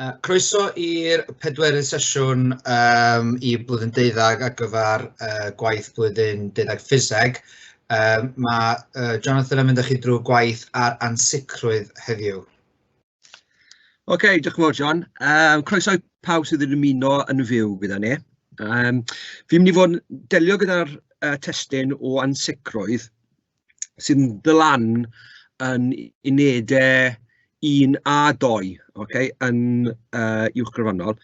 Yy croeso i'r pedwerydd sesiwn yym i Blwyddyn Deuddeg ar gyfer yy gwaith blwyddyn deuddeg Ffiseg, yym ma' yy Jonathan yn mynd â chi drwy gwaith ar ansicrwydd heddiw. Ok diolch yn fawr John, yym croeso i pawb sydd yn ymuno yn fyw gyda ni, yym fi'n mynd i fod yn delio gyda'r yy testun o ansicrwydd. sydd yn dod lan yn unedau un a dou ok yn yy uwch grondonol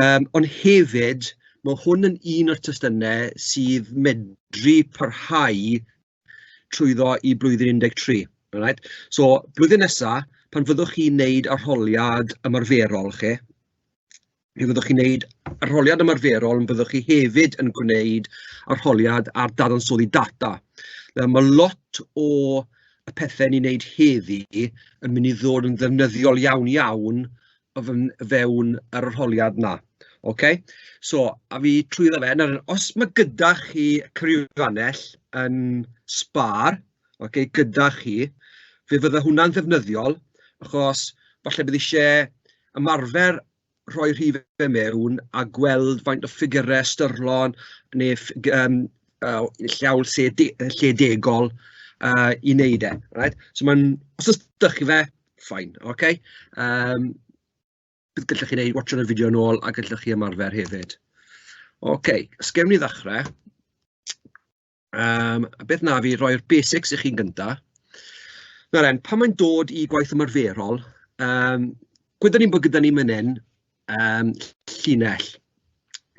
yym ond hefyd ma' hwn yn un o'r testunau sydd medru parhau trwyddo i blwyddyn un deg tri alright so blwyddyn nesa pan fyddwch chi'n neud arholiad ymarferol chi mi fyddwch chi'n wneud arholiad ymarferol, ond byddwch chi hefyd yn gwneud arholiad ar dadansoddi data. Nawr ma' lot o y pethe ni'n neud heddi yn mynd i ddod yn ddefnyddiol iawn iawn o fyn- o fewn yr arholiad 'na, ok? So a fi trwyddo fe, nawr os ma' gyda chi cyfrifannell yn Spar, ok, gyda chi, fe fydde hwnna'n ddefnyddiol, achos falle bydd isie ymarfer rhoi rhifau mewn a gweld faint o ffigyrau ystyrlon neu ffug- yym yy llaw lle de- yy lle degol yy i wneud e reit, so ma'n os oes 'da chi fe fine ok yym bydd gallech chi wneud watsiad y fideo yn ôl a gallech chi ymarfer hefyd. Ok os gawn ni ddechrau. Yym a beth wna i yw rhoi'r basics i chi'n gynta. Nawr dden, pan mae'n dod i gwaith ymarferol, yym gwyddwn ni'n bod gyda ni fan hyn yym llinell,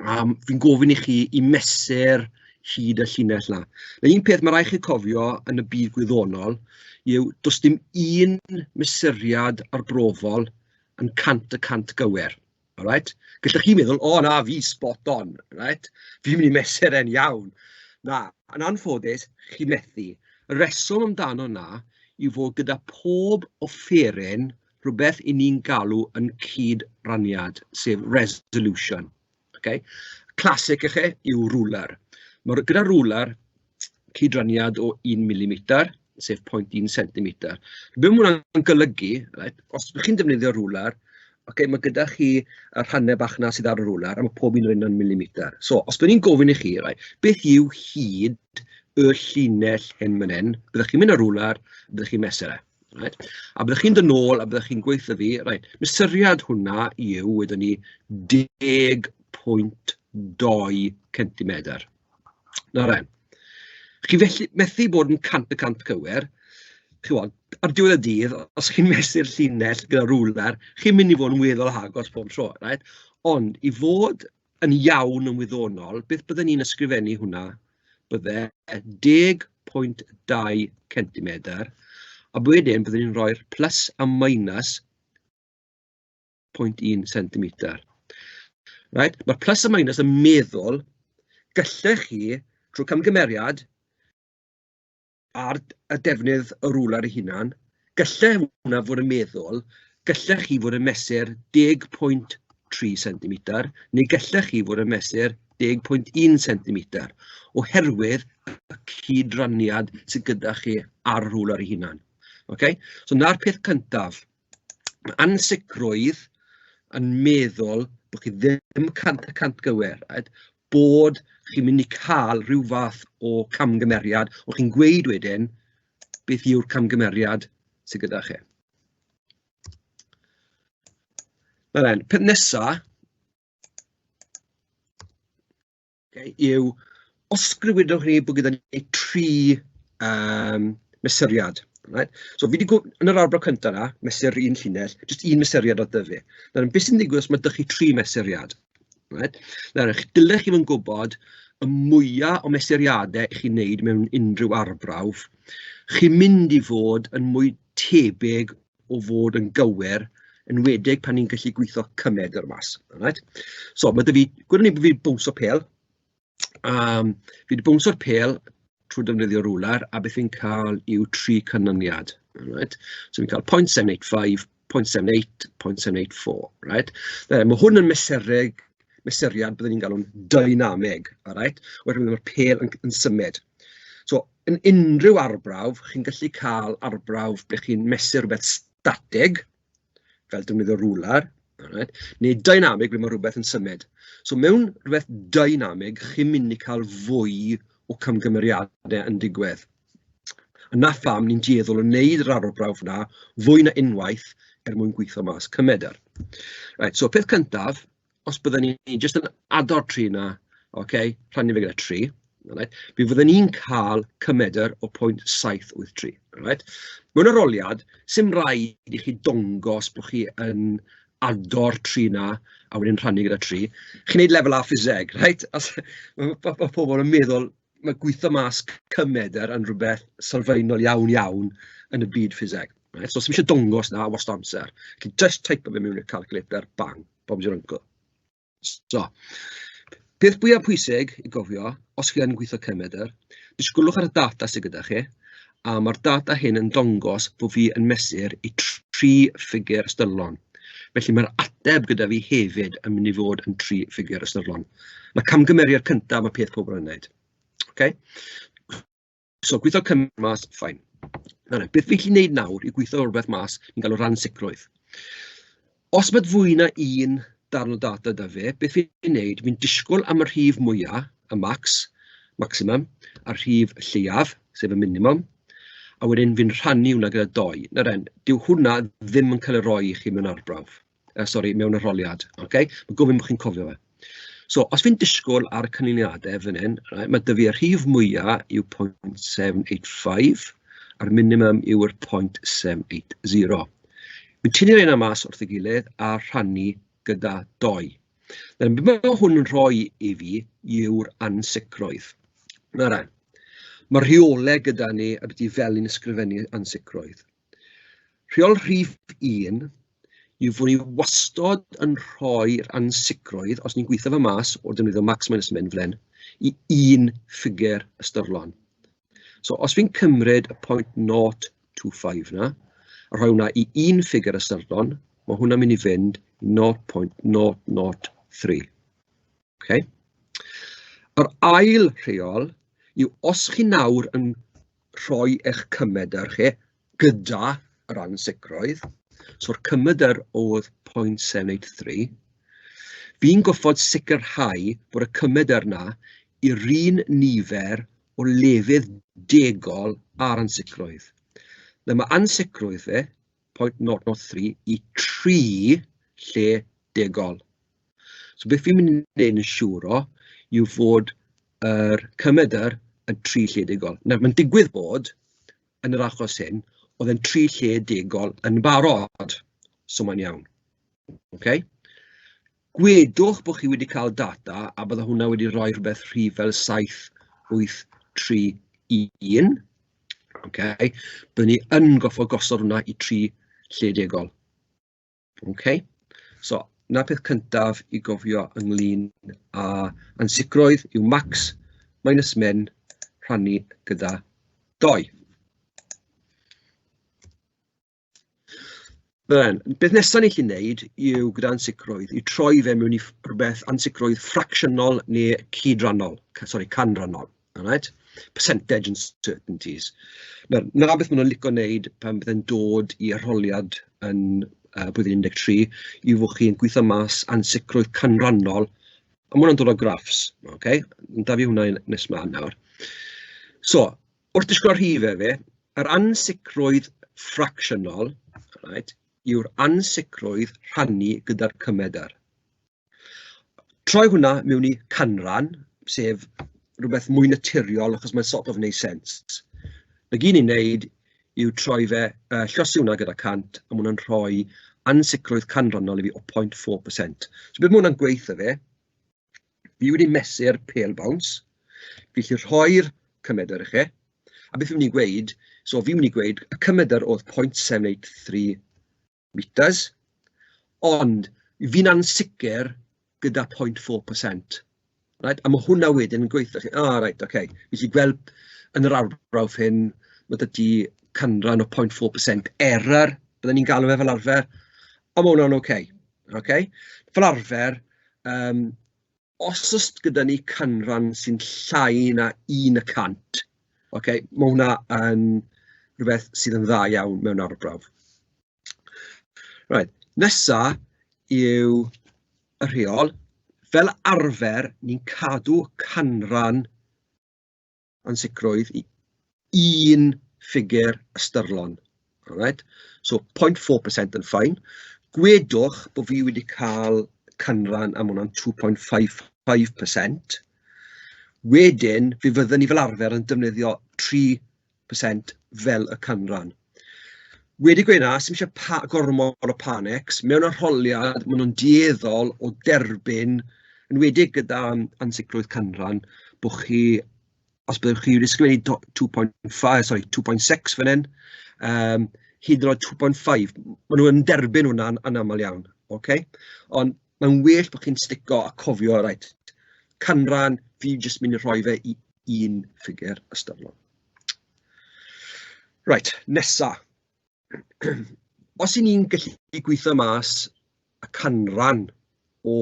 a fi'n gofyn i chi i mesur hyd y llinell 'na. Nawr un peth ma' raid i chi cofio yn y byd gwyddonol yw does dim un mesuriad arbrofol yn cant y cant gywir. Alright? Gallwch chi meddwl, "o na, fi spot on, reit, fi'n mynd i mesur e'n iawn". Na, yn anffodus, chi methu. Y rheswm amdano 'na yw fod gyda pob offeryn rywbeth 'y ni'n galw yn cyd-raniad, sef resolution, ok? Classic ife yw rwlr. Nawr gyda rwlr, cydraniad o un milimeter, sef 0.1 centimeter. Be ma' hwnna'n golygu, reit, os dach chi'n defnyddio rwlar, ocê, ma' gyda chi y rhannau bach 'na sydd ar y rwlar, a ma' pob un o reina'n milimeter. So, os byddwn i'n gofyn i chi, reit, beth yw hyd y llinell hyn fan hyn, byddwch chi'n mynd â'r rwlar, byddwch chi'n mesur e, reit, a byddwch chi'n dod nôl a byddwch chi'n gweutho fi, reit, mesuriad hwnna yw, wedwn ni, 10.2 centimetr. nawr de, chi felly methu bod yn cant y cant cywir, chimod, ar diwedd y dydd, os chi'n mesur llinell gyda rywler, chi'n mynd i fod yn weddol agos pob tro, reit? Ond i fod yn iawn yn wyddonol, beth bydden i'n ysgrifennu hwnna, bydde 10.2 centimetr, a wedyn bydden i'n rhoi'r plys a minus... pwynt un centimetr reit. Ma'r plys a minus yn meddwl gallech chi drwy camgymeriad ar y defnydd y rwla ei hunan, gallai hwnna fod yn meddwl gallech chi fod yn mesur 10.3 centimetr neu gallech chi fod yn mesur 10.1 centimetr oherwydd y cydraniad sydd gyda chi ar y rwla ei hunan. Ok, so 'na'r peth cyntaf. ma' ansicrwydd yn meddwl bod chi ddim cant y cant gywir, a bod chi'n mynd i cael ryw fath o camgymeriad, o' chi'n gweud wedyn beth yw'r camgymeriad sy gyda chi. Nawr dden, peth nesa... yw, os sgriwydlwch chi bod gyda ni tri yym mesuriad reit, so fi 'di gw- yn yr arbrawf cynta 'na, mesur un llinell, jyst un mesuriad oedd 'da fi, nawr be sy'n digwydd os ma' 'da chi tri mesuriad reit, nawr y'ch dylech chi fod yn gwybod y mwya o mesuriade 'y chi'n neud mewn unrhyw arbrawf, chi'n mynd i fod yn mwy tebyg o fod yn gywir, enwedig pan ni'n gallu gweithio cymaint o'r maes reit. So ma' 'da fi... gwn i bod fi 'di bownsio pêl yym fi 'di bownsio'r pêl trwy defnyddio rwlar a beth fi'n cael yw tri canlyniad reit. So fi'n cael point seven eight five, point seven eight, point seven eight four reit. Nawr ma' hwn yn mesurug mesuriad byddwn ni'n galw'n dynamig alright oherwydd ma'r pêl yn symud. So yn unrhyw arbrawf, chi'n gallu cael arbrawf ble chi'n mesur rywbeth statig, fel defnyddio rwlar, alright, neu dynamig ble ma' rywbeth yn symud. So mewn rywbeth dynamig, chi'n mynd i cael fwy o camgymeriadau yn digwydd. A 'na pham ni'n dueddol o wneud yr arbrawf 'na fwy na unwaith er mwyn gweithio mas cymeradwyaeth. Right, so peth cyntaf, os bydden ni jyst yn addo tri 'na, ocê, rhannu fe gyda tri, alright, mi fydden ni'n cael cymedr o pwynt saith wyth tri, alright. Mewn arholiad, 'sdim raid i chi dongos bod chi yn ado'r tri 'na a wedyn rhannu gyda tri, chi'n wneud lefel A ffiseg, reit, os ma' ma' ma' pobl yn meddwl ma' gweitho mas cymedr yn rywbeth sylfaenol iawn iawn yn y byd ffiseg, reit, so 'sdim isie dongos 'na wastad amser, chi jyst teipo fe mewn i'r calculator, bang. Bob's your uncle. So peth fwya pwysig i gofio, os chi yn gweithio cefnmedr, disgwlwch ar y data sydd gyda chi, a mae'r data hyn yn dangos bod fi yn mesur i tri ffigur ystyrlon. Felly mae'r ateb gyda fi hefyd yn mynd i fod yn tri ffigur ystyrlon. Mae camgymeriad cyntaf, mae peth pobl yn wneud. Okay? So gwitho cyngor mas, fine. Nawr de, beth fi'n gallu wneud nawr yw gwitho rywbeth mas fi'n galw'r ansicrwydd. Os ma' fwy na un darn o data 'da fe, beth fi'n wneud, fi'n disgwyl am y rhif mwya', y max, maximum, a'r rhif lleiaf, sef y minimum, a wedyn fi'n rhannu hwnna gyda dou. Nawr den, dyw hwnna ddim yn cael ei roi i chi mewn arbrawf. yy sori mewn arholiad ok, ma' gofyn bod chi'n cofio fe. So os fi'n disgwyl ar y canlyniadau fan hyn, reit ma' 'da fi y rhif mwya yw point seven eight five a'r minimum yw'r point seven eight zero. Fi'n tynnu'r reina mas wrth ei gilydd a rhannu gyda dou. Nawr be ma' hwn yn rhoi i fi yw'r ansicrwydd. Nawr de, ma' rheolau gyda ni ambiti fel ni'n ysgrifennu ansicrwydd. Rheol rhif un yw fod ni wastod yn rhoi'r ansicrwydd, os ni'n gweithio fe mas o defnyddio max minus min fel hyn, i un ffigur ystyrlon. So os fi'n cymryd y 0.025 yna, a rhoi hwnna i un ffigur ystyrlon, mae hwnna'n mynd i fynd i 0.003. ok. Yr ail rheol yw os chi nawr yn rhoi eich cymedr chi gyda yr ansicrwydd, so'r cymedr oedd 0.783, fi'n gorfod sicrhau bod y cymedr 'na i'r un nifer o lefydd degol a'r ansicrwydd. Nawr ma' ansicrwydd fe pwynt naw naw tri i tri lle degol. So beth fi'n mynd i wneud yn siŵr o yw fod yr cymedr yn tri lle degol. Nawr mae'n digwydd bod yn yr achos hyn oedd e'n tri lle degol yn barod, so mae'n iawn. Okay? gwedwch bod chi wedi cael data a bydde hwnna wedi rhoi rhywbeth rhif fel 7831 ocê, bydden ni yn gorfod gosod hwnna i tri lle degol ocê, so 'na'r peth cyntaf i gofio ynglyn â ansicrwydd yw max minus min rhannu gyda dou. Ddyn, beth nesaf ni'n gallu wneud yw gyda ansicrwydd, yw troi fe mewn i rywbeth ansicrwydd ffracsiynol neu cyd-rannol, sori, canrannol, alright? percentage and certainties. Nawr, 'na beth maen nhw'n licio wneud pan bydde'n dod i arholiad yn uh, blwyddyn 13, yw fod chi'n gweithio mas ansicrwydd canrannol, a mae hwnna'n dod o graffs, okay? da fi hwnna nes ma nawr. So, Wrth disgwyl rhif hefyd, yr ansicrwydd ffracsiynol, reit, yw'r ansicrwydd rhannu gyda'r cymedr. Troi hwnna mewn i canran, sef rywbeth mwy naturiol achos mae'n sort of wneud sense. 'na gyd ni'n wneud yw troi fe... yy llosgi hwnna gyda cant, a ma' hwnna'n rhoi ansicrwydd canrannol i fi o 0.4%. So be ma' hwnna'n gweud 'tha fe? fi wedi mesur pêl bowns, fi'n gallu rhoi'r cymedr i chi, a beth fi'n mynd i gweud, so fi'n mynd i gweud y cymedr oedd point seven eight three metres, ond fi'n ansicr gyda point four percent, reit, a ma' hwnna wedyn yn gweud 'tha chi, o reit ocê, fi'n gallu gweld yn yr arbrawf hyn, ma' 'da ti canran o point four percent error, bydden ni'n galw fe fel arfer, a ma' hwnna'n ocê. ok. Fel arfer yym os oes gyda ni canran sy'n llai na un y cant, ok, ma' hwnna yn rywbeth sydd yn dda iawn mewn arbrawf. Reit, nesa yw y rheol, fel arfer ni'n cadw canran ansicrwydd i un ffigur ystyrlon. Right? So 0.4% yn ffain. Gwedwch bod fi wedi cael canran am hwnna'n 2.55%. Wedyn, fe fydden ni fel arfer yn defnyddio 3% fel y canran. Wedi gweud 'na, sdim isie pa- gormod o panic, mewn arholiad maen nhw'n dueddol o derbyn, enwedig gyda ansicrwydd canran, bo' chi... os byddwch chi wedi sgwennu do- two point fi- sori two point six fan hyn, yym hyd yn oed two point five, maen nhw'n derbyn hwnna'n anaml iawn, ocê? Ond mae'n well bod chi'n sticio a cofio, reit, canran, fi jyst mynd i rhoi fe i un ffigur ystyrlon. Reit, nesa. Os 'y ni'n gallu gweithio mas y canran o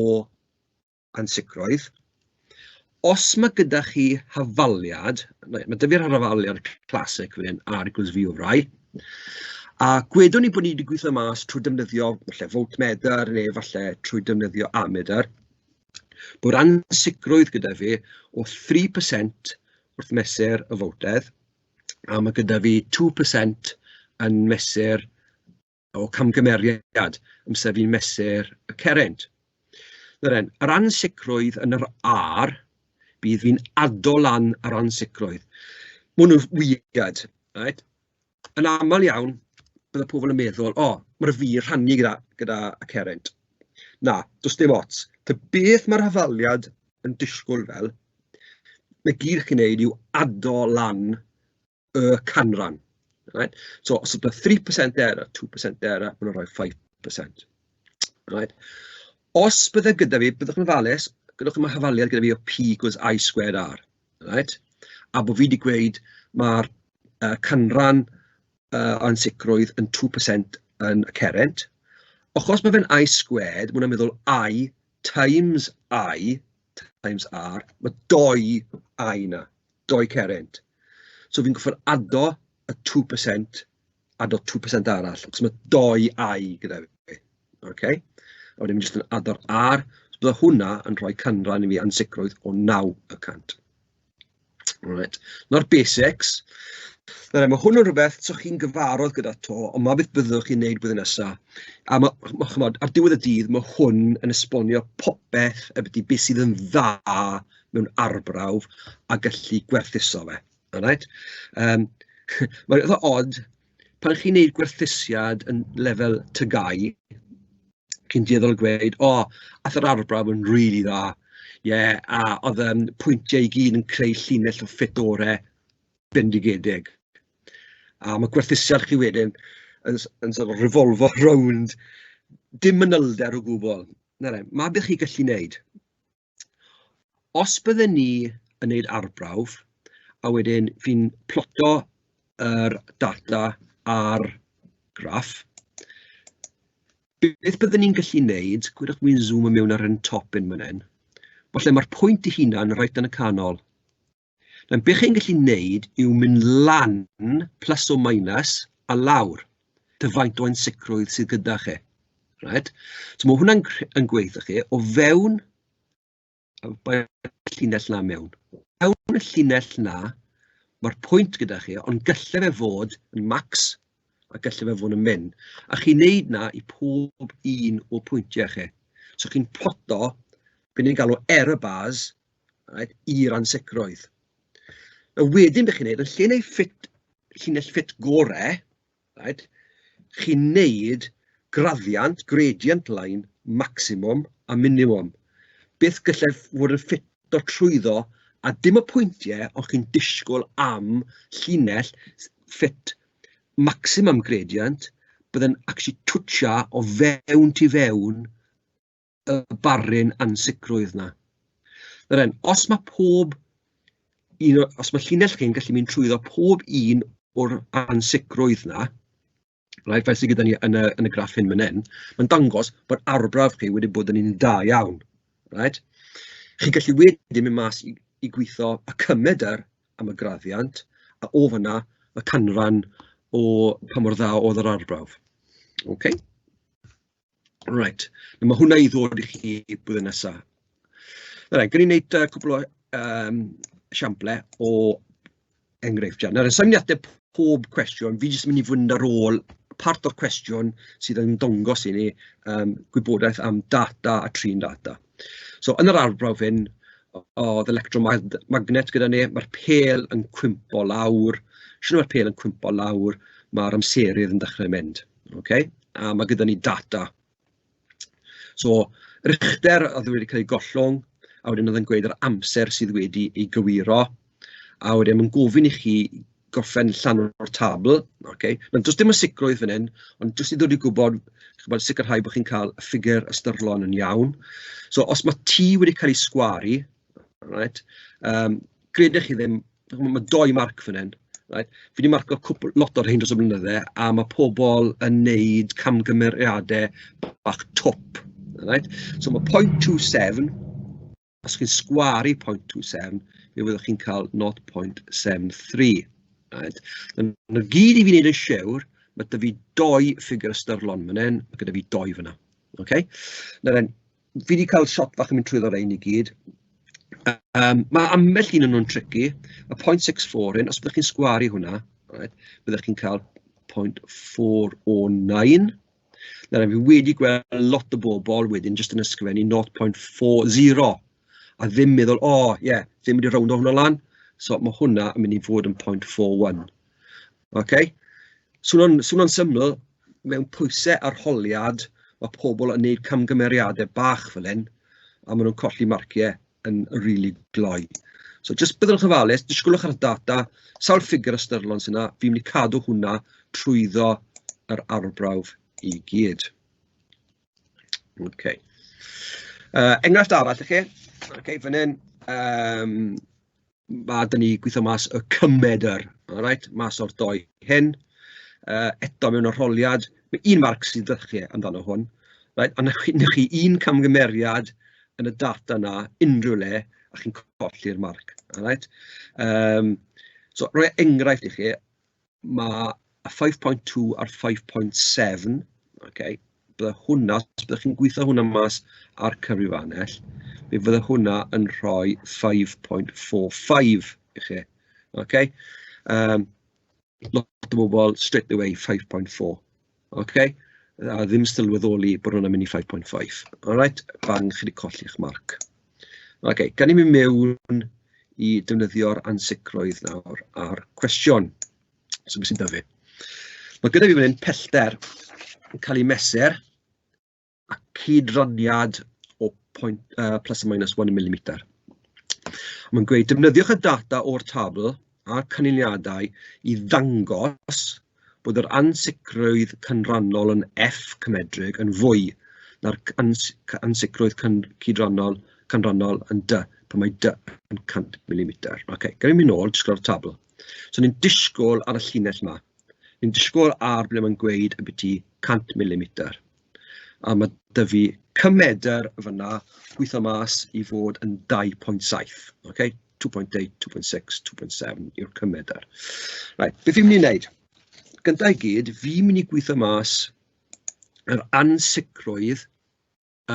ansicrwydd, os ma' gyda chi hafaliad, ma' 'da fi'r hafaliad classic fan hyn, R equals V over I, a gwedwn i bod ni 'di gweithio mas trwy defnyddio falle voltmeter neu falle trwy defnyddio ammeter, bod ansicrwydd gyda fi o 3% wrth mesur y fowdedd, a ma' gyda fi two per cent yn mesur o camgymeriad, amser fi'n mesur y cerrynt. Nawr den, yr ansicrwydd yn yr R, bydd fi'n addo lan yr ansicrwydd. Maen nhw'n weird, reit. yn aml iawn bydde pobl yn meddwl, "o, ma' 'da fi rhannu gyda gyda Carent". Na, does dim ots. Ta beth ma'r hafaliad yn disgwyl fel, 'na gyd chi'n wneud yw addo lan y canran, reit. So os o'dd 'na three percent error, two percent error, ma' nhw'n rhoi five percent, reit. Os bydde gyda fi, byddwch yn ofalus, gyda chi ma' hafaliad gyda fi o P equals I squared R. reit a bod fi 'di gweud ma'r yy canran yy o ansicrwydd yn two percent yn y Cerent, achos bod fe'n I-squared ma' hwnna'n meddwl I times I times R, ma' dou I 'na, dou Cerent, so fi'n gorfod addo y two percent. add o two percent arall, achos ma' dou I gyda fi, ok? A wedyn jyst yn add o'r R, so bydd hwnna yn rhoi canran i fi ansicrwydd o naw y cant. Alright, 'na'r basics. Nawr ma' hwn yn rhywbeth 'sa chi'n gyfarwydd gyda 'to, ond 'ma beth byddwch chi'n wneud blwyddyn nesa. A ma' ma' chimod, ar diwedd y dydd, ma' hwn yn esbonio popeth ambiti be sydd yn dda mewn arbrawf a gallu gwerthuso fe. Alright yym mae'n eitha od pan chi'n wneud gwerthusiad yn lefel TGAU, chi'n dueddol o gweud "o aeth yr arbrawf yn rili dda, ie a oedd y pwyntiau i gyd yn creu llinell o ffit orau bendigedig". A ma' gwerthusiad chi wedyn yn s- yn sort of revolfo rownd dim manylder o gwbl, na fe, 'na be chi'n gallu wneud. Os bydden ni yn wneud arbrawf, a wedyn fi'n ploto yr data ar graff, beth bydden ni'n gallu wneud, gwnewch i jyst sŵmio mewn ar ein top ein fan hyn, falle mae'r pwynt ei hunan reit yn y canol. Nawr, beth chi'n gallu wneud yw mynd lan, plus or minus, a lawr, ta faint o ansicrwydd sydd gyda chi. Right? So mae hwnna'n yn gweithio chi o fewn y llinell na mewn. Mewn y llinell na, mae'r pwynt gyda chi, ond gallai fe fod yn max a gallai fe fod yn min. A chi'n neud na i pob un o pwyntiau chi. So chi'n ploto, beth ni'n galw error bars, Right, i'r ansicrwydd. A wedyn be chi'n neud, yn lle neud ffit, llinell ffit gorau, right, chi'n neud graddiant, gradient line, maximum a minimum. Beth gallai fod yn ffit o trwyddo a dim y pwyntiau o chi'n disgwyl am llinell ffit maximum gradient, bydd yn actually twtio o fewn tu fewn y barrun ansicrwydd 'na. Nawr den, os ma' pob un o... os ma' llinell chi'n gallu mynd trwyddo pob un o'r ansicrwydd 'na, reit, fel sy gyda ni yn y yn y graff hyn man hyn, ma'n dangos bod arbrawf chi wedi bod yn un da iawn, reit. Chi'n gallu wedyn mynd mas i i gwitho y cymedr am y graddiant, a o fanna y canran o pa mor dda oedd yr arbrawf. Ok. Reit, a ma' hwnna i ddod i chi blwyddyn nesa. Reit, gawn ni wneud yy cwpl o yym esiamplau o enghreifftiau. Nawr, sa i'n mynd i ateb pob cwestiwn, fi jyst yn mynd i fynd ar ôl part o'r cwestiwn sydd yn dangos i ni yym gwybodaeth am data a trin data. So yn yr arbrawf hyn, oedd electromagn- magnet gyda ni, ma'r pêl yn cwympo lawr, shwt ma'r pêl yn cwympo lawr, ma'r amserydd yn dechrau mynd. ok a ma' gyda ni data so rythr oedd wedi cael ei gollwng a wedyn oedd e'n gweud yr amser sydd wedi ei gywiro a wedyn ma'n gofyn i chi gorffen llanw'r tabl ok ma'n does dim y sicrwydd fan hyn ond jyst i ddod i gwybod chimod sicrhau bod chi'n cael y ffigur ystyrlon yn iawn so os ma' T wedi cael ei sgwaru reit yym gred chi ddim, chimod ma' dou marc fan hyn, reit, fi 'di marcio cwpwl... lot o'r rhein dros y blynydde a ma' pobl yn wneud camgymeriadau bach twp, reit, so ma' point two seven os chi'n sgwaru point two seven fe fyddwch chi'n cael nought point seven three reit, a 'na gyd i fi wneud yn siwr ma' 'da fi dou ffigur ystyrlon fan hyn, ma' gyda fi dou fanna, ocê? fi 'di cael shot bach yn mynd trwyddo rhein i gyd, yym ma' ambell un o nhw'n tricky, y point six four hyn, os byddech chi'n sgwaru hwnna, byddech chi'n cael point four oh nine, nawr fi wedi gweld lot o bobl wedyn jyst yn ysgrifennu nought point four zero, a ddim meddwl "o ie, ddim wedi rowndo hwnna lan", so ma' hwnna yn mynd i fod yn point four one. ok? Swnio'n swnio'n syml, mewn pwysau arholiad, ma' pobl yn wneud camgymeriadau bach fel hyn, a maen nhw'n colli marciau yn rili glou. So jyst byddwch yn ofalus, disgwlwch ar y data, sawl ffigur ystyrlon sy 'na, fi'n mynd i cadw hwnna trwyddo yr arbrawf i gyd. Ok. Uh, enghraifft arall i chi, okay, fan hyn, um, ma' 'da ni gweithio mas y cymed yr alright mas o'r dou hyn yy eto mewn arholiad, ma' un marc sy'n dda chi amdano hwn reit, a 'na chi 'na chi un camgymeriad yn y data 'na unrhyw le a chi'n colli'r marc alright yym so roi enghraifft i chi. ma' y 5.2 a'r 5.7, ocê, byddai hwnna, os byddech chi'n gweithio hwnna mas ar cyfrifiannell, mi fydde hwnna yn rhoi 5.45 i chi, ocê. Yym lot o bobl straight away 5.4. ok a ddim sylweddoli bod hwnna'n mynd i 5.5 alright bang chi 'di colli'ch marc. Ok gawn ni mynd mewn i defnyddio'r ansicrwydd nawr a'r cwestiwn so be sy'n dyfu. Mae gyda fi fan hyn pellter yn cael ei mesur a cyd-raniad o point yy plus or minus one millimetre. Mae'n gweud defnyddiwch y data o'r tabl a'r canlyniadau i ddangos bod yr ansicrwydd cynrannol yn F cymedrig yn fwy na'r ans ansicrwydd cyn cydrannol canrannol yn dy, pan mae dy yn 100 mm. Ok, gawn ni mynd nôl, disgwyl ar y tabl. So ni'n disgwyl ar y llinell yma. Ni'n disgwyl ar ble mae'n gweud y byti 100 mm. a ma' 'da fi cymedr fanna gweitho mas i fod yn 2.7 ok, 2.8, 2.6, 2.7 yw'r cymedr. Reit, be fi'n mynd i wneud, gynta i gyd, fi'n mynd i gwitho mas yr ansicrwydd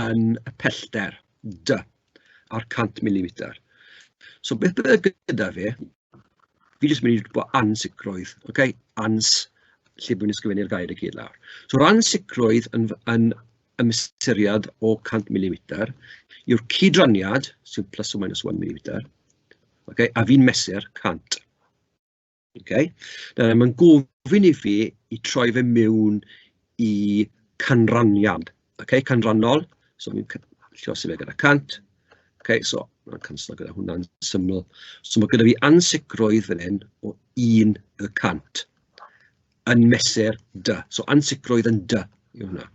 yn y pellter 'da' a'r cant milimeter. So beth bydd gyda fi... fi jyst yn mynd i bod yn ansicrwydd ok ans lle bod ni'n sgrifennu'r gair i gyd lawr. So ran sicrwydd yn yn yn ystyried o 100 milimeter yw'r cydraniad sy'n plus or minus 1 milimeter ok a fi'n mesur 100 ok nawr mae'n gofyn i fi i troi fe mewn i canraniad Ok canlynol, so fi'n c- llosgi fe gyda cant. Ok so ma' canslo gyda hwnna'n syml. So ma' gynno fi ansicrwydd fan hyn o un y cant yn mesur dy. So ansicrwydd yn dy yw hwnna.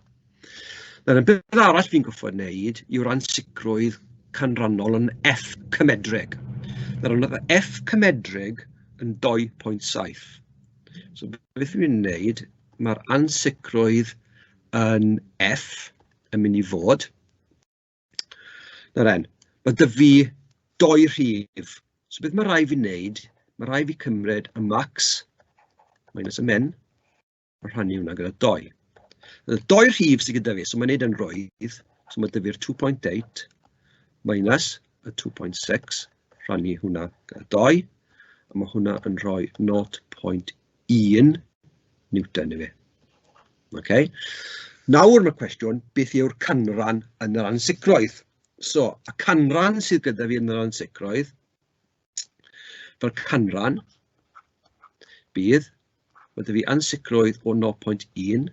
Nawr y peth arall fi'n gorfod wneud yw'r ansicrwydd canlynol yn F cymedreg. Nawr yn F cymedreg yn 2.7. So beth fi'n wneud, mae'r ansicrwydd yn F yn mynd i fod, nawr den, ma' 'da fi dou rhif, so beth ma' raid i fi wneud, ma' raid i fi cymryd y max minus y min a rhannu hwnna gyda dou. Y dou rhif sy gyda fi, so ma'n wneud e'n rwydd, so ma' 'da fi'r 2.8 minus y 2.6 rhannu hwnna gyda dou, a ma' hwnna yn rhoi 0.1. 1 Newton ife. Okay. Nawr mae cwestiwn, beth yw'r canran yn yr ansicrwydd? So, y canran sydd gyda fi yn yr ansicrwydd, fel canran, bydd, mae dy fi ansicrwydd o 0.1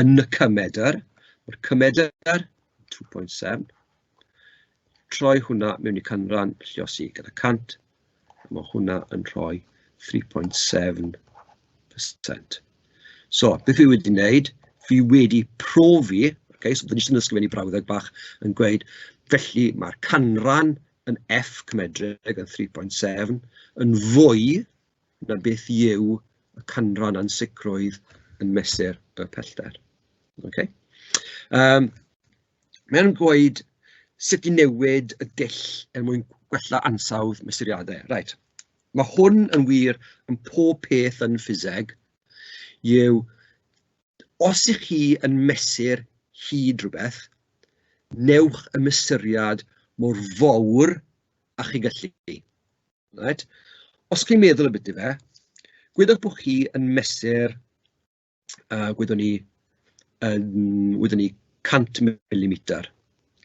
yn y cymedr, mae'r cymedr 2.7, Troi hwnna mewn i canran, lluosi gyda 100, a mae hwnna yn rhoi 3.7%. So, beth fi wedi wneud, fi wedi profi, okay, so dyn ni sy'n ysgrifennu brawddeg bach yn gweud, felly mae'r canran yn F cymedreg yn 3.7 yn fwy na beth yw y canran ansicrwydd yn mesur y pellter. Okay? Um, mae o'n gweud sut i newid y dull er mwyn gwella ansawdd mesuriadau. Reit, mae hwn yn wir yn pob peth yn ffiseg, yw os ych chi yn mesur hyd rhywbeth, newch y mesuriad mor fawr a chi gallu. Right? Os chi'n meddwl y bit i fe, gwyddoch bod chi yn mesur yy gwyddwn ni yn... wyddwn ni 100 milimeter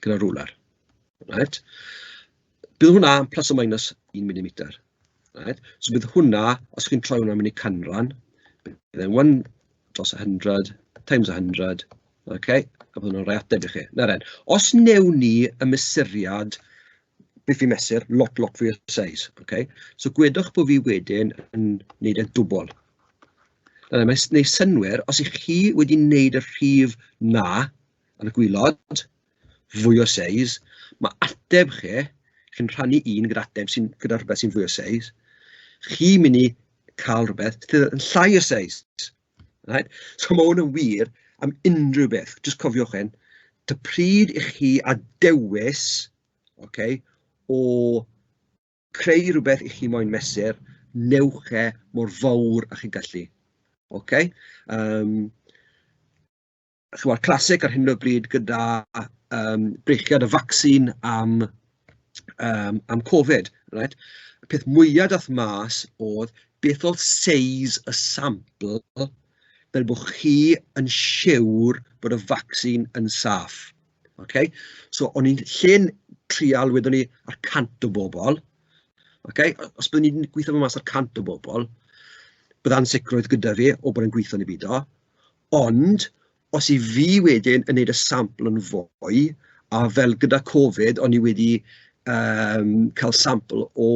gyda'r rwlar reit, bydd hwnna yn plus or minus 1 milimeter reit, so bydd hwnna, os chi'n troi hwnna'n mynd i canran, bydd e'n one dros 100 times 100 ok a bydd hwnna'n rhoi ateb i chi. Nawr den, os wnewn ni y mesuriad beth fi'n mesur, lot lot fwy o seis ok, so gwedwch bod fi wedyn yn wneud e'n dwbl Yy mae'n wneud synnwyr, os 'y chi wedi wneud y rhif 'na ar y gwaelod, fwy o seis, ma' ateb chi, chi'n rhannu un gyda ateb sy'n... gyda rhywbeth sy'n fwy o seis, chi'n mynd i cael rhywbeth sydd yn llai o seis, reit? So ma' hwn yn wir am unrhyw beth, jyst cofiwch hyn, ta pryd 'y chi â dewis, ocê, o... creu rhywbeth i chi moyn mesur, newch e mor fawr â chi'n gallu. Ok? Yym chimod, classic ar hyn o bryd gyda yym brechiad y vaccine am yym am Covid, reit? Y peth mwya daeth mas oedd beth oedd seis y sampl fel bod chi yn siwr bod y vaccine yn saff. ok so o'n i'n lle'n trial wedwn i y cant o bobl ok os byddwn i'n gweithio mas y cant o bobl bydd ansicrwydd gyda fi o bod e'n gweithio'n i beidio ond os 'y fi wedyn yn neud y sampl yn fwy a fel gyda Covid o'n i wedi yym cael sampl o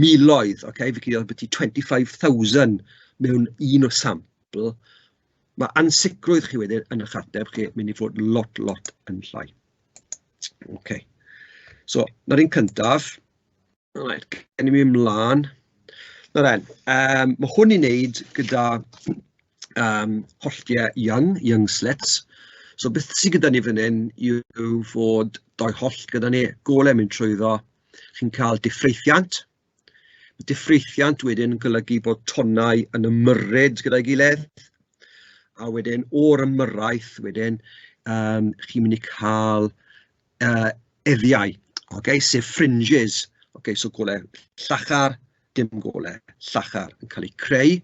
miloedd ok fi'n credu oedd ambiti twenty five thousand mewn un sampl. Ma' ansicrwydd chi wedyn yn eich ateb chi yn mynd i fod lot, lot yn llai. Ok, so 'na'r un cyntaf. Reit, cawn ni mynd mlaen. Nawr den, yym ma' hwn i wneud gyda yym holltiau young, young slits. So beth sydd gyda ni fan hyn yw fod dou hollt gyda ni, golau yn mynd trwyddo, chi'n cael diffreithiant. Mae diffreithiant wedyn yn golygu bod tonnau yn ymyrryd gyda'i gilydd, a wedyn o'r ymyrraeth wedyn yym chi'n mynd i cael yy eddiau, ocê, sef fringes, ocê, so golau llachar, dim golau llachar yn cael eu creu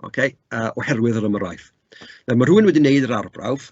ocê yy oherwydd yr ymyrraeth. Nawr ma' rhywun wedi wneud yr arbrawf.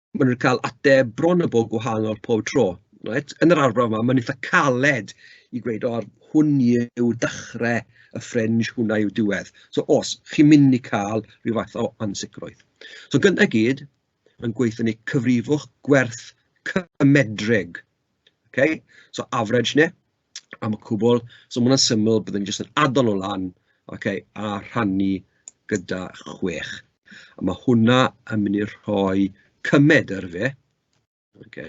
maen nhw'n cael ateb bron a bod gwahanol pob tro, reit. Yn yr arbrawf 'ma mae'n eitha' caled i gweud "o hwn yw dechrau y ffrinj, hwnna yw diwedd", so os chi'n mynd i cael ryw fath o ansicrwydd. So gynta i gyd, mae'n gweud ni cyfrifwch gwerth cymedrig, ok, so average neu am y cwbl, so ma' hwnna'n syml, byddwn i'n jyst yn adal o lan ocê a rhannu gyda chwech, a ma' hwnna yn mynd i rhoi cymed ar ife ocê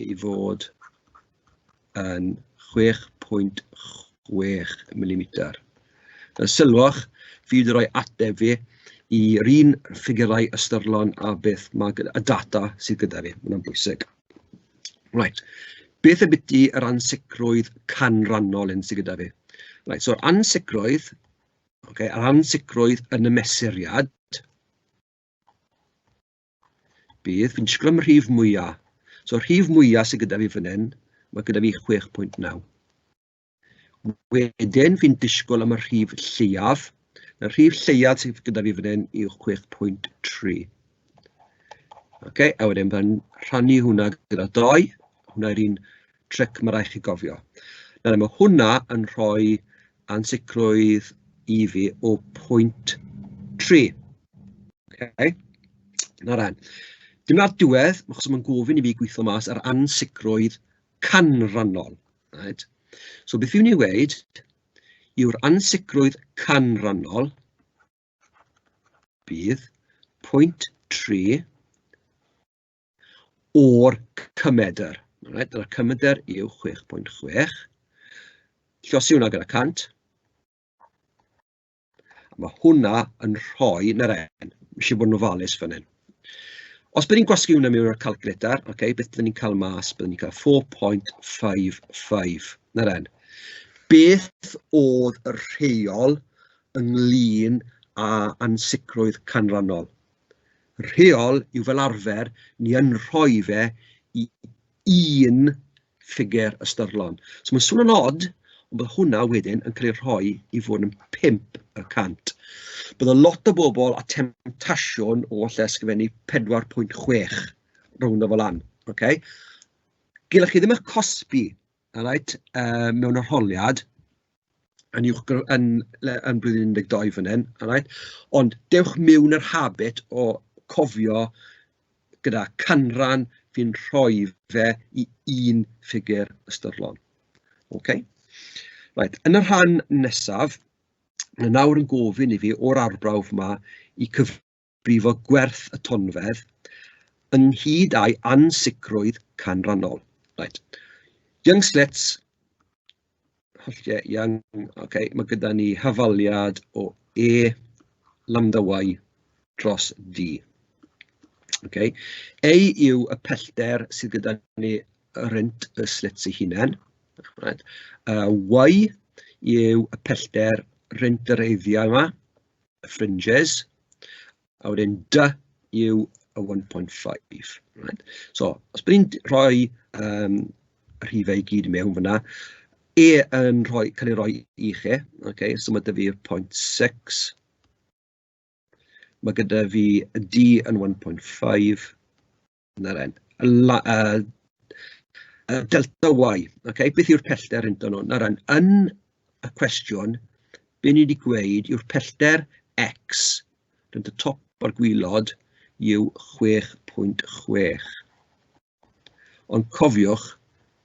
i fod yn 6.6 milimeter, a sylwch fi 'di rhoi ateb fi i'r un ffigyrau ystyrlon a beth ma' gyda... y data sydd gyda fi, ma' hwnna'n bwysig. Reit, beth ambiti yr ansicrwydd canrannol hyn sy gyda fi? Reit, so'r ansicrwydd, ocê, yr ansicrwydd yn y mesuriad bydd, fi'n disgwyl am y rhif mwya, so'r rhif mwya sy gyda fi fan hyn, ma' gyda fi chwech pwynt naw. Wedyn fi'n disgwyl am y rhif lleiaf. Y rhif lleiaf sydd gyda fi fan hyn yw 6.3. Ok, a wedyn fe'n rhannu hwnna gyda doi. Hwnna yw'r un tric mae rhaid chi gofio. Nawr, mae hwnna yn rhoi ansicrwydd i fi o 0.3. Ok, na ran. Dyna'r diwedd, achos mae'n gofyn i fi gweithio mas yr ansicrwydd canrannol. reit so beth fi'n mynd i weud yw'r ansicrwydd canrannol bydd pwynt 3 o'r cymedr. Right? Dyna'r cymedr yw 6.6. Llosi hwnna gyda 100. Ma' hwnna yn rhoi... 'na fe, isie bod yn ofalus fan hyn. Os bod ni'n gwasgu hwnna mewn i'r calculator, ocê, beth byddwn ni'n cael mas? Byddwn ni'n cael 4.55, 'na fe. Beth oedd y rheol ynglyn â ansicrwydd canlynol? Rheol yw fel arfer, ni yn rhoi fe i un ffigur ystyrlon. So mae'n swnio'n od, ond bod hwnna wedyn yn cael ei rhoi i fod yn 5 y cant. Bydd y lot o bobl a temtasiwn o falle ysgrifennu 4.6 rownd o fel lan, ok? Gilech chi ddim eich cosbi, alright, yy mewn arholiad, yn uwch gr- yn le- yn blwyddyn un deg dau fan hyn, alright ond dewch mewn i'r habit o cofio gyda canran fi'n rhoi fe i un ffigur ystyrlon, ok? Reit, yn y rhan nesaf, ma' nawr yn gofyn i fi o'r arbrawf 'ma i cyf- brifo gwerth y tonfedd, ynghyd â'i ansicrwydd canrannol. Right. Young slits, holltiau young, okay. mae gyda ni hafaliad o E lambda Y dros D. Okay. Ei yw y pellter sydd gyda ni rent y slits ei hunain. Right. Uh, y y pellter rent yr eiddiau yma. y fringes, a wedyn dy yw y 1.5 reit. So os bod ni'n rhoi yym y rhifau i gyd mewn fan'na, e yn rhoi cael ei roi i chi, ok, so ma' 'da fi'r point six, ma' gyda fi y du yn 1.5, 'na fe, y la- yy y delta y, ok, beth yw'r pellter inton nhw? Nawr dden, yn y cwestiwn, be ni 'di gweud yw'r pellter x rhwng y top o'r gwylod yw 6.6. Ond cofiwch,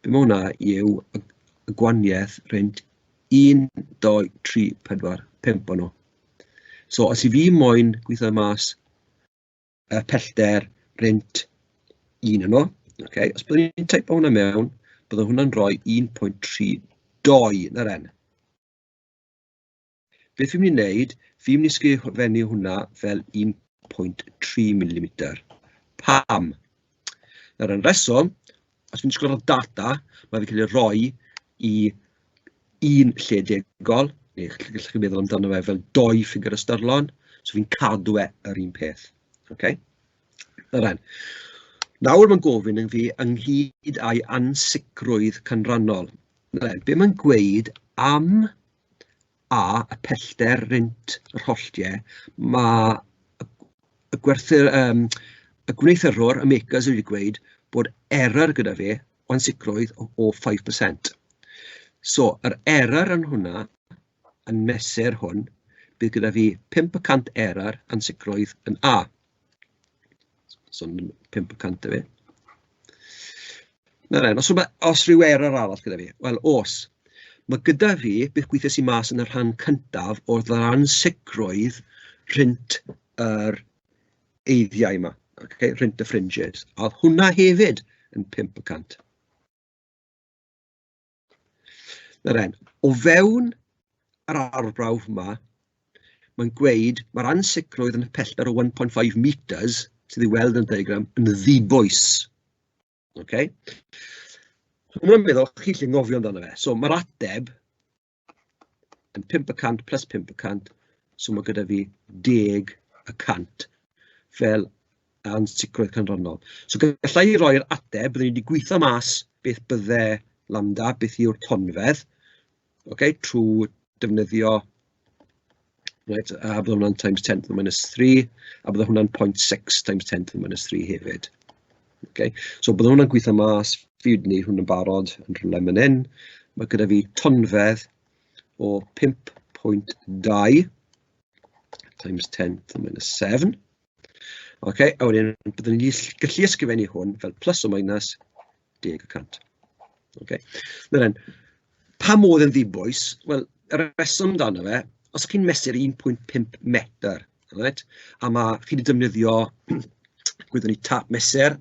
be mae hwnna yw y gwaniaeth rhwng 1, 2, 3, 4, 5 o'n nhw. So os i fi moyn gweithio mas y pellter rent un yno, ok? Os byddwn ni'n teipo hwnna mewn, byddwn hwnna'n rhoi 1.32 yn yr N. Beth fi'n mynd i wneud, fi'n mynd i sgrifennu hwnna fel 1.3 mm. Pam? Nawr, yn reswm, Os fi'n disgwyl ar y data, ma' fe'n cael ei roi i un lle degol, neu ch- gallwch chi feddwl amdano fe fel dou ffigwr ystyrlon, so fi'n cadw e yr un peth, ocê? O ran... nawr mae'n gofyn i fi ynghyd â'i ansicrwydd canrannol, be mae'n gweud am... a y pellter rent yr holltiau, ma' y gwerthu- yym y gwneuthurwr, y makers wedi gweud bod error gyda fe o ansicrwydd o o five per cent. So yr error yn hwnna, yn mesur hwn, bydd gyda fi pump y cant error ansicrwydd yn A. So 500 efe. Na ren, os, rhywbeth, os rhyw error arall gyda fi, wel os, mae gyda fi beth gweithio sy'n mas yn y rhan cyntaf o ddaran sicrwydd rhint yr eiddiau yma, okay? rhint y fringes. A oedd hwnna hefyd yn 5 y cant. Nawr den, o fewn yr arbrawf yma, mae'n gweud mae'r ansicrwydd yn y pellter o 1.5 metres sydd ei weld yn y diagram yn ddibwys. Okay? Mae'n meddwl, chi lle ngofio amdano fe. So mae'r ateb yn 500 plus 500, so mae gyda fi 10 y cant fel a ansicrwydd canlynol. So galla i roi'r ateb, byddwn i wedi gweithio mas beth bydde lambda, beth yw'r tonfedd, okay, trwy defnyddio right, a bydd hwnna'n times 10 to the minus 3, a bydd hwnna'n 0.6 times 10 to the minus 3 hefyd. Okay. So bydd hwnna'n gweithio mas, fi wedi gwneud hwn yn barod yn rhywle man hyn. Mae gyda fi tonfedd o 5.2 times 10 to the minus 7. Ocê, a wedyn byddwn ni'n gallu gallu ysgrifennu hwn fel plus or minus deg y cant. Ocê, nawr dden, pa modd yn ddibwys? Wel, y rheswm amdano fe, os chi'n mesur 1.5 metr, reit, a ma' chi 'di defnyddio gwyddwn ni tap mesur,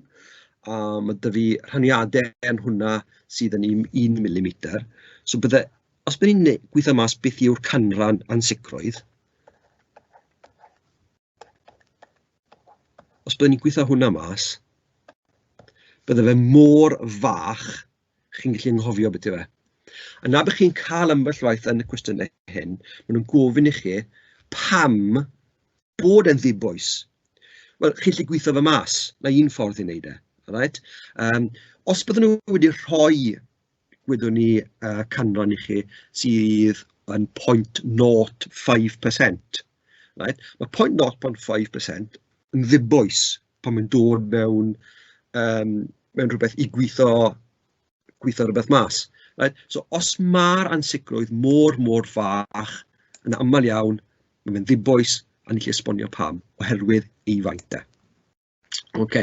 a ma' 'da fi rhaniadau yn hwnna sydd yn un un milimeter, so bydde... os by' ni'n ne- gweithio mas beth yw'r canran ansicrwydd, Os byddwn ni'n gweithio hwnna mas, bydde fe mor fach, chi'n gallu anghofio beth yw e. A na bych chi'n cael ambell waith yn y cwestiynau hyn, maen nhw'n gofyn i chi pam bod e'n ddibwys. Wel, chi'n gallu gweithio fe mas, mae un ffordd i wneud e, alright? Um, os byddwn nhw wedi rhoi gwyddwn i yy canran i chi sydd yn point nought five percent right, ma' point nought point five percent yn ddibwys pan mae'n dod mewn yym mewn rhywbeth i gwitho gwitho rywbeth mas right. So os ma'r ansicrwydd mor mor fach yn aml iawn ma' fe'n ddibwys a ni'n gallu esbonio pam oherwydd ei faint e. Ok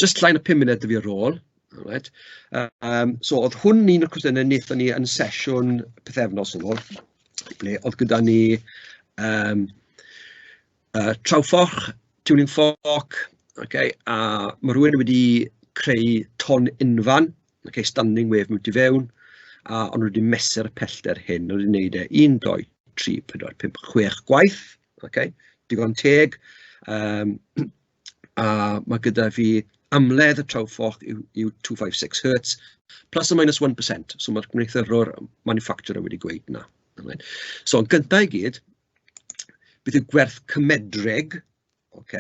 jyst llai na pum munud 'da fi ar ôl, alright yym so oedd hwn un o'r cwestiynnau wnaethon ni yn sesiwn pythefnos yn ôl ble oedd gyda ni yym yy Trowfforch, Tuning Fork ok a ma' rywun wedi creu ton unfan ok standing wave mewn tu fewn a o'n nhw 'di mesur y pellter hyn, o'n nhw 'di neud e un, dou, tri, pedwar, pump, chwech gwaith. ok digon teg yym a ma' gyda fi amledd y Trowfoch yw yw two five six hertz plus or minus one percent so ma'r gwneuthurwr maniffacturer wedi gweud 'na nawr so yn gynta i gyd beth yw gwerth cymedreg ok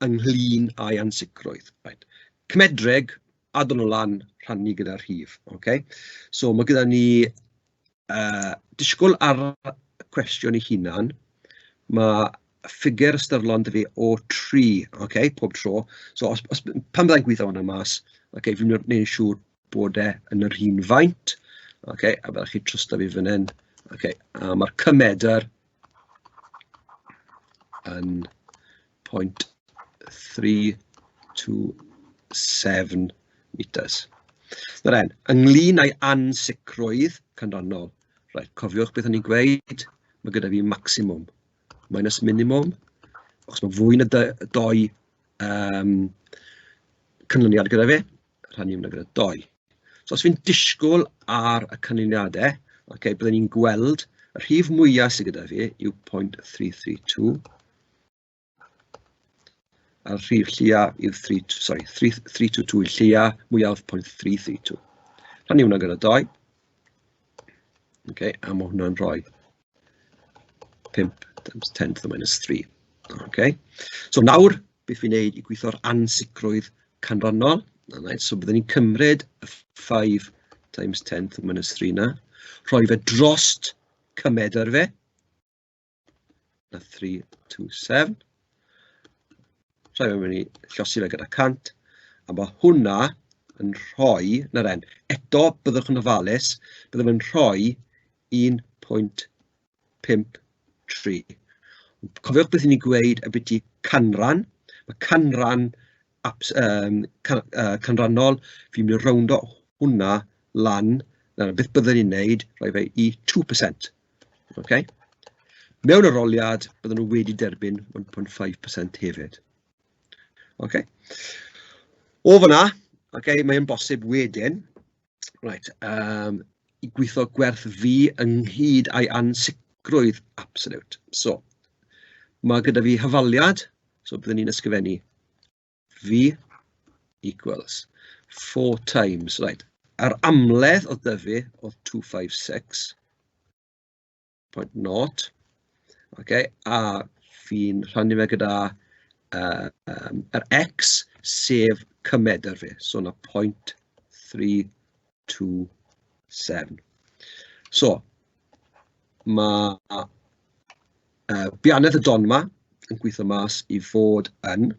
ynglyn â'i ansicrwydd reit cymedreg addo nhw lan rhannu gyda'r rhif ok so ma' gyda ni yy disgwyl ar y cwestiwn ei hunan, ma' ffigur ystyrlon 'da fi o tri ocê pob tro, so os os... pan fydda i'n gweud hwnna mas ocê fi'n wneud yn siŵr bod e yn yr un faint ocê a fyddwch chi'n trwsio fi fan hyn ocê a ma'r cymedr yn point three two seven metres. Nawr e'n, ynglyn â'i ansicrwydd canlynol, reit, cofiwch beth o'n i'n gweud, mae gyda fi maximum minus minimum, achos mae fwy na dou um, canlyniad gyda fi. rhannu hwnna gyda dou. So os fi'n disgwyl ar y canlyniadau, ok, byddwn ni'n gweld y rhif mwyaf sydd gyda fi yw 0.332 a'r rhif lleiaf yw 3, sorry, 322 i'r lleiaf mwyaf 0.332. Rhannu hwnna gyda doi. Ok, a mae hwnna'n rhoi 5 times 10 to the minus 3. Okay. So nawr, beth fi'n neud i gweithio'r ansicrwydd canrannol? Right, so byddwn ni'n cymryd y 5 times 10 to the minus 3 na, rhoi fe drost cymedr fe, na 3 to 7, rhoi fe mynd i llosi fe gyda 100, a mae hwnna yn rhoi, na ren, eto byddwch yn ofalus, byddwch yn rhoi 1.53. Cofiwch beth ni'n gweud ambiti canran, ma' canran abs- yym can- yy canrannol, fi'n mynd i rowndo hwnna lan, na beth byddwn i'n wneud, rhoi fe i two percent ok. Mewn arholiad bydden nhw wedi derbyn 1.5% hefyd. Ok. O fan'na, ok, mae'n bosib wedyn Reit yym i gweithio gwerth fi ynghyd â'i ansicrwydd absoliwt. So ma' gyda fi hafaliad, so byddwn ni'n ysgrifennu fi equals four times, reit, yr amledd oedd 'da fi oedd two five six. point nought ok a fi'n rhannu fe gyda yy yym yr x sef cymed 'da fi, so 'na point three two seven. So ma' yy bianedd y don 'ma yn gwitho mas i fod yn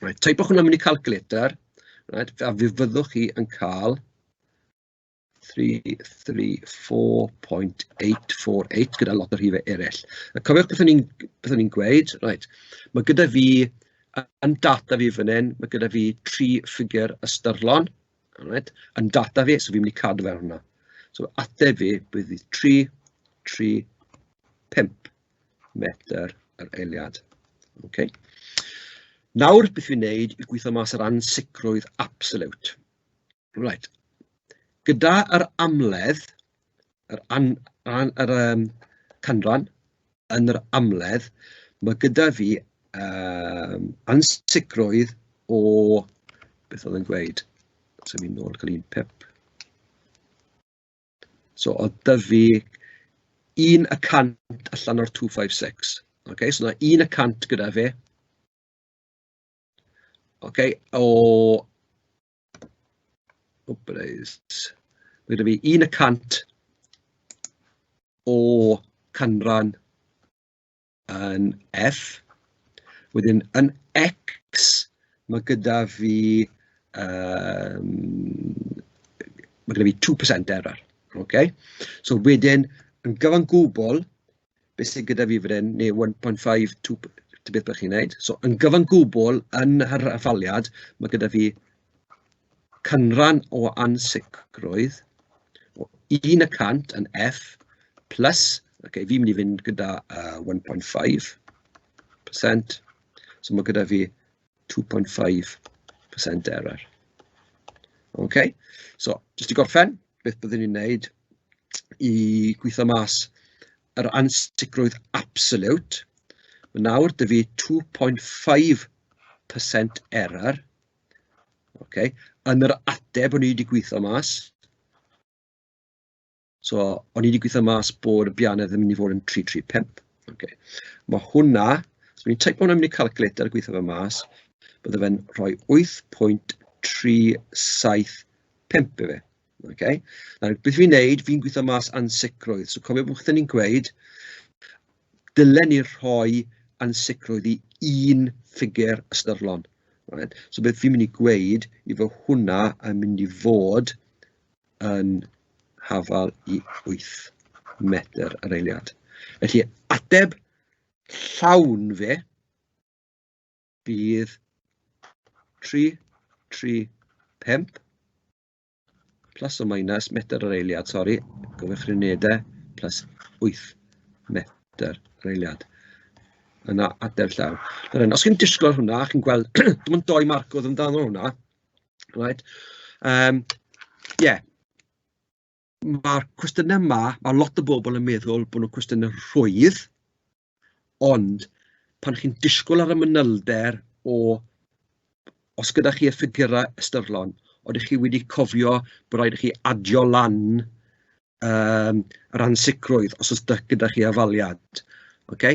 reit teipiwch hwnna mewn i calculator reit a fe fyddwch chi yn ca'l three three four point eight four eight gyda lot o rhifau eraill. A cofiwch beth o'n i'n beth o'n i'n gweud, reit, ma' gyda fi yy yn data fi fan hyn, ma' gyda fi tri ffigur ystyrlon, reit, yn data fi, so fi'n mynd i cadw fe ar hwnna. So ateb fi bydd hi tri tri pump metr yr eiliad. Ok. Nawr beth fi'n wneud yw gweithio mas yr ansicrwydd absolute. Reit. Gyda yr amledd, yr an- an- yr yym canran yn yr amledd, ma' gyda fi yym ansicrwydd o beth oedd e'n gweud? Symud nôl cyn un pip. So oedd 'da fi un y cant allan o'r two five six, ocê, so 'na un y cant gyda fi, ocê, o... Operates. Mae gyda fi un y cant o canran yn F. Wedyn yn X, mae gyda fi yym ma' gyda fi two percent error, ok? So wedyn yn gyfan gwbl, be sy gyda fi fan hyn, neu one point five two ta beth bynnag chi'n wneud, so yn gyfan gwbl yn yr hafaliad, ma' gyda fi canran o ansicrwydd o un y cant yn F plus, ok fi'n mynd i fynd gyda yy one point five percent, so ma' gyda fi two point five percent error. Ok, so jyst i gorffen, beth byddwn ni'n wneud i gweithio mas yr ansicrwydd absolute. Mae nawr dy fi 2.5% error. Ok, yn yr ateb o'n i wedi gweithio mas. so o'n i 'di gweithio mas bod y Bianedd yn mynd i fod yn tri tri pump, ocê ma' hwnna, os dwi'n teipo hwnna mewn i calculator a gweithio fe mas, bydde fe'n rhoi wyth pwynt tri saith pump i fi, ocê. Nawr beth fi'n wneud, fi'n gweithio mas ansicrwydd, so cofiwch beth o'n i'n gweud, dylen ni rhoi ansicrwydd i un ffigur ystyrlon, reit, so beth fi'n mynd i gweud yw bod hwnna yn mynd i fod yn hafal i wyth metr yr eiliad, felly ateb llawn fe fydd tri, tri, pump, plus o minus metr yr eiliad, sori, gyfeirchrynedau, plus wyth metr yr eiliad. Yna ateb llawn. Os chi'n disgwyl hwnna, chi'n gweld, dim ond dou marc oedd amdano hwnna. Reit yym ie ma'r cwestiynau 'ma, ma' lot o bobl yn meddwl bod nhw'n cwestiynau rhwydd, ond pan chi'n disgwyl ar y manylder o os gyda chi y ffigyrau ystyrlon, odych chi wedi cofio bod raid i chi adio lan yym o ran sicrwydd os oes 'da... gyda chi afaliad ok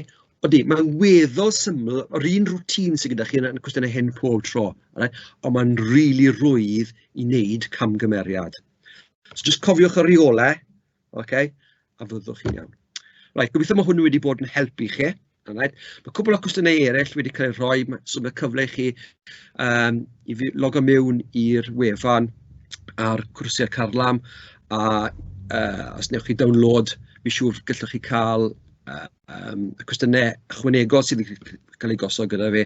odi mae'n weddol syml yr un routine sy' gyda chi yn cwestiynau hyn pob tro alright ond mae'n rili rwydd i wneud camgymeriad so jyst cofiwch y rheolau ok a fyddwch chi'n iawn. Reit gobeithio bod hwn wedi bod yn help i chi. Alright. Mae cwpl o cwestiynau eraill wedi cael eu rhoi, ma- so ma' cyfle i chi yym i fi- logo mewn i'r wefan ar cwrsiau CARLAM a yy os wnewch chi download fi'n siŵr gallwch chi cael yy yym y cwestiynau ychwanegol sydd wedi cael eu gosod gyda fi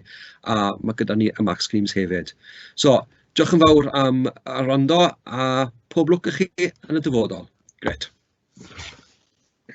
a ma' gyda ni y Max Games hefyd. So diolch yn fawr am yy wrando a pob lwc i chi yn y dyfodol. Grêt.